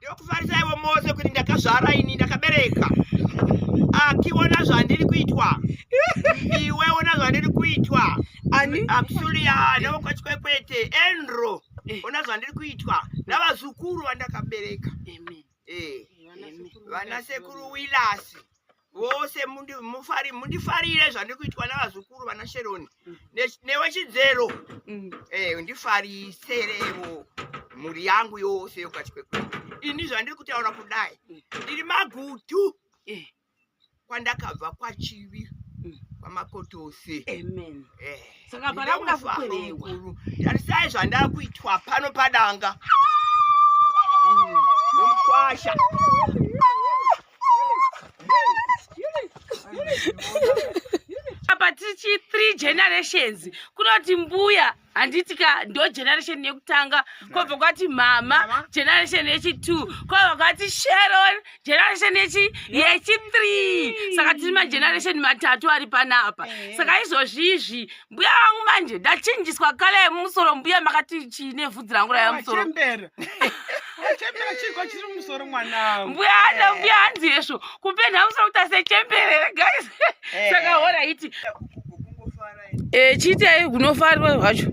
ndinokufarisaiwo mose kuti ndakazvara ini ndakabereka akiona zvandiri kuitwa iwe ona zvandiri kuitwa akusuria navokwachikwekweete enro eh. ona zvandiri kuitwa navazukuru vandakabereka eh, vana sekuru wilasi vose mundifarire zvandiri kuitwa navazukuru vana sheroni mm. newe chidzero mm. eh, ndifariserevo mhuri yangu yose yokati kwekwedu ini zvandiri kutaura kudai mm. ndiri magutu eh. kwandakabva kwachivi kwamakotose eh. saka pana kuda kukwerewa tarisai zvandava kuitwa pano padanga nomukwasha apa tichi three generations kunoti mbuya handiti ka ndo generation yekutanga kwobva kwati mhama generation yechitwo kwobva kwati sheron generation yechi yechithree saka tiri mageneration matatu ari panapa saka izvozvizvi mbuya vangu manje ndachinjiswa kale yemumusoro mbuya makati chii nevhudzi rangu raiva musoro mbuya hana mbuya hanzi hezvo kupenda musoro kuti asechemberere guys eh. saka hora iti eh, chiitei hunofarwa hwacho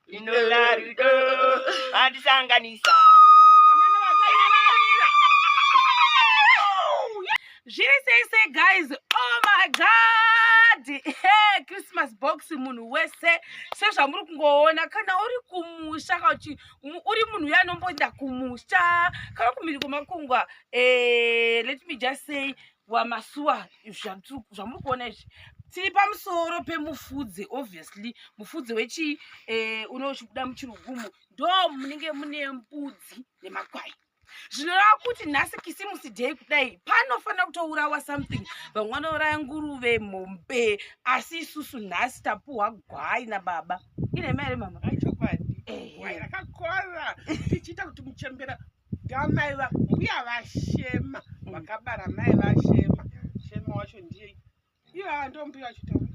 Inoda rudo andisanganisa. Amana vakaina varira. Zviri sei sei guys. Oh my god. Hey, Christmas box munhu wese sezvamuri kungoona kana uri kumusha kana kuti mu- uri munhu uya anomboenda kumusha kana kumhiri kwemakungwa eh, let me just say wamasuwa zvamuri kuona izvi tiri pamusoro pemufudze obviously mufudze wechii eh, uno uchibuda muchirugumo ndo munenge mune mbudzi nemakwai zvinoreva kuti nhasi kisimusi day kudai panofanira kutourawa something vamwe vanouraya nguruve mombe asi isusu nhasi tapuhwa gwai nababa ine mari mama chokwadi gwai rakakora tichiita kuti muchembera Gamai va mbuya vashema mm. vakabara mai vashema shema wacho ndiye iyo ava ndo mbuya vachitaura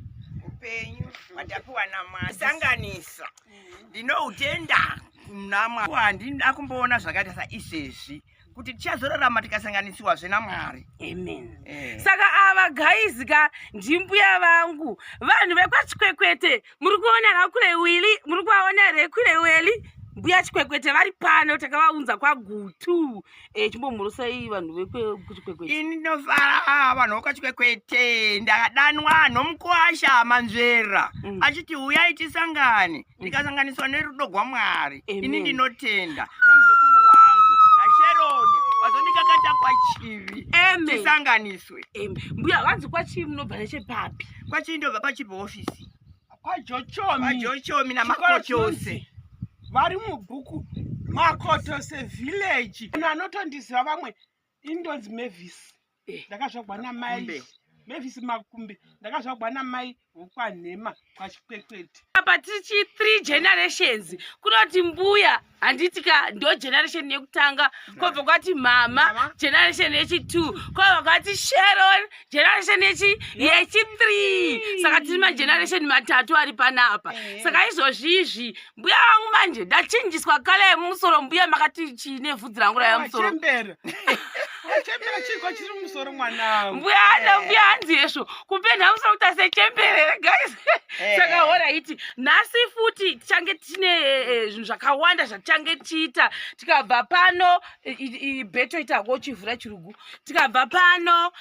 upenyu hwatapiwa namwari sanganisa mm. ndinoutenda namwari handina kumboona zvakaita saizvezvi kuti tichazorarama tikasanganisiwazve namwari amen eh. saka ava gaizi ka ndimbuya vangu vanhu vekwachikwekwete muri kuona rakule wili muri kuvaona here kule weli mbuya chikwekwete vari pano takavaunza kwagutu e, chimbomhorosai vanhu vekuchikwekwete ini ndinofara vanhu vokwachikwekwete ndadanwa nomukwasha manzvera mm. achiti uyai tisangane mm. ndikasanganiswa nerudo gwamwari ini ndinotenda namuzukuru wangu nasheroni vazondikakata kwachivi tisanganiswa to it em mbuya vanzi kwachii munobva nechepapi kwachii ndobva pachipi office kwajochomi kwajochomi namakoti chose vari mubhuku makoto sevillage munhu anotondiziva vamwe indonzi mavis eh. ndakazvagwa namai mavis makumbi ndakazvagwa namai hokwanhema kwachikwekwete apa tichi three generations kunoti mbuya handiti ka ndo generation yekutanga kwobva kwati mama generation yechitwo kwobva kwati sheron generation yechi yechithree saka tiri mageneration matatu ari panapa eh. saka izvozvi izvi mbuya vangu manje ndachinjiswa kale yemumusoro mbuya makati chii nevhudzi rangu raiva musoro mbuya ana mbuya hanzi hezvo kupenda musoro kuti asechemberere guys eh. saka hora iti nhasi futi tichange tine eh, eh, zvinhu zvakawanda zvatichange tichiita tikabva pano beto itako chivhura chirugu tikabva pano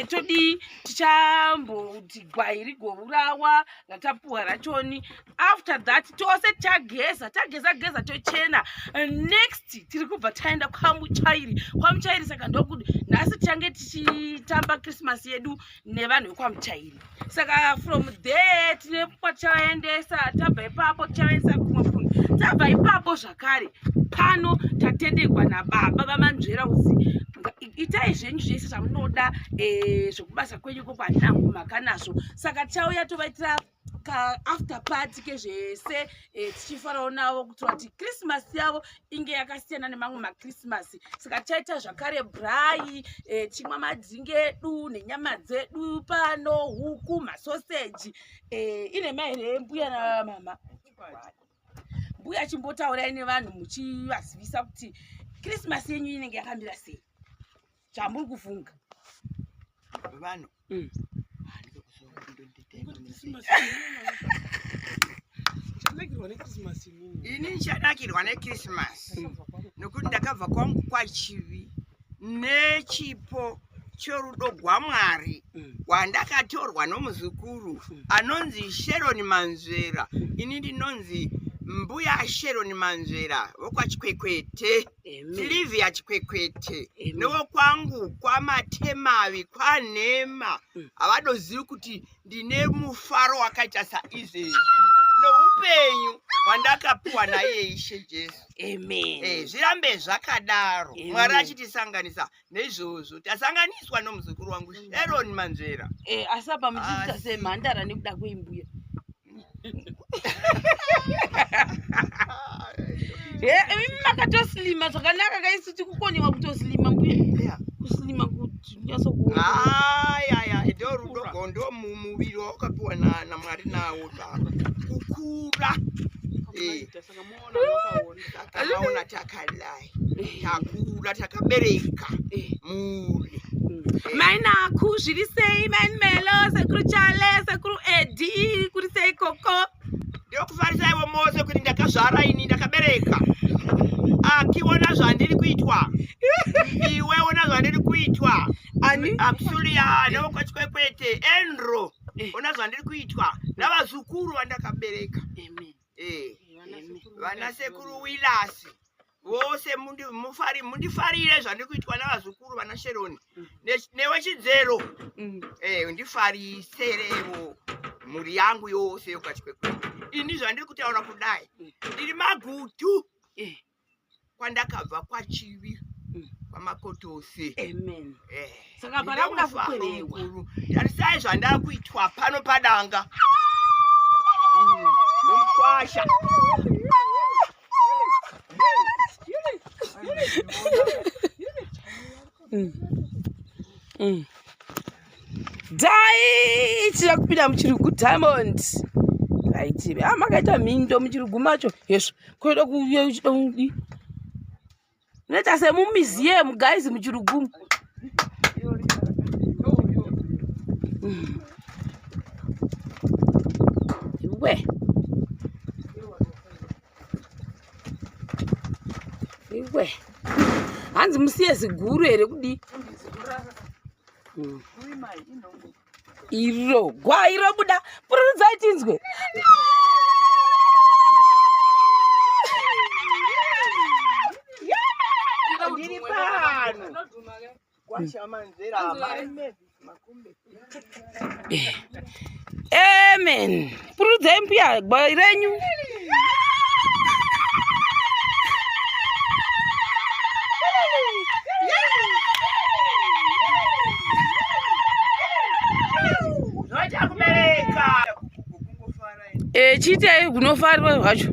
todii tichamboti gwai rigovurawa ratapuwa rachoni after that tose tageza tageza geza tochena next tiri kubva taenda kwamuchairi kwamuchairi saka ndokuti nhasi tichange tichitamba christmas yedu nevanhu vekwamuchairi saka from there tine kwatichavaendesa tabva ipapo tichavaendesa kumwe funhu tabva ipapo zvakare pano tatendegwa nababa vamanzvera uzi itai zvenyu zvese zvamunoda eh, zvekubasa kwenyu ko kwanangu makanazvo saka tichauya tovaitira ka after party kezvese eh, tichifarawo navo kuitira kuti krismasi yavo inge yakasiyana nemamwe makrismasi saka tichaita zvakare brai eh, tichimwa madzingi edu nenyama dzedu pano huku masoseji eh, ine mai here mbuya namama mbuya chimbotaurai nevanhu muchivazivisa kuti krismasi yenyu inenge yakamira sei chamuri kufunga vanhu mm. ini nchanakirwa nekrisimasi mm. nokuti ndakabva kwangu kwachivi nechipo chorudo gwamwari mm. gwandakatorwa nomuzukuru mm. anonzi sheroni manzvera ini ndinonzi mbuya sheroni manzvera vokwachikwekwete Silivia Chikwekwete newo kwangu kwamatemavi kwanhema mm. havadozivi kuti ndine mufaro wakaita saizvezvi neupenyu hwandakapiwa naiye Ishe Jesu. Amen. Eh, zvirambe zvakadaro. Mwari achitisanganisa neizvozvo tasanganiswa nomuzukuru wangu mm. sharon manzvera eh, asi apa muchiita semhandara nekuda kweimbuya eh, imi makatosilima zvakanaka kaisu tikukonewa kutosilima mbuya kusilima kuti nyatsokuayaya ndo rudo gondo mumuviri wawakapiwa namwari nawo baba kukura eh. takaona takalai takura takabereka eh. mhuri mm. eh. mainaku zviri sei mainimelo sekuru chale sekuru edi kuri sei koko ndokufarisaivo mose kuti ndakazvara ini ndakabereka akiona zvandiri kuitwa iwe ona zvandiri kuitwa amsulia nokwachikwekweete enro ona zvandiri kuitwa navazukuru vandakabereka amen eh, vana sekuru wilasi vose mundifarire zvandiri kuitwa navazukuru vana sheroni mm. newe chidzero mm. eh, ndifariserevo mhuri yangu yose yokati kwekwe ini zvandiri kutaura kudai mm. ndiri magutu eh. kwandakabva kwachivi mm. kwamakotose amen eh saka pana kuda kukwerewa tarisai zvandakuitwa pano padanga mm. nomkwasha mm. mm. dai ichida kupinda muchirugu diamond aitive a ah, makaita mhindo muchirugu macho hezvo koida kuuya uchida kudi unoita semumiziemu guys muchirugumu iwe iwe hanzi musiye ziguru here kudii iro gwai robuda pururudzai tinzwe ndiri pano kwashamanzera amen Pururudzai mbuya gwai renyu. Eh, chiitai kunofarwa zvacho.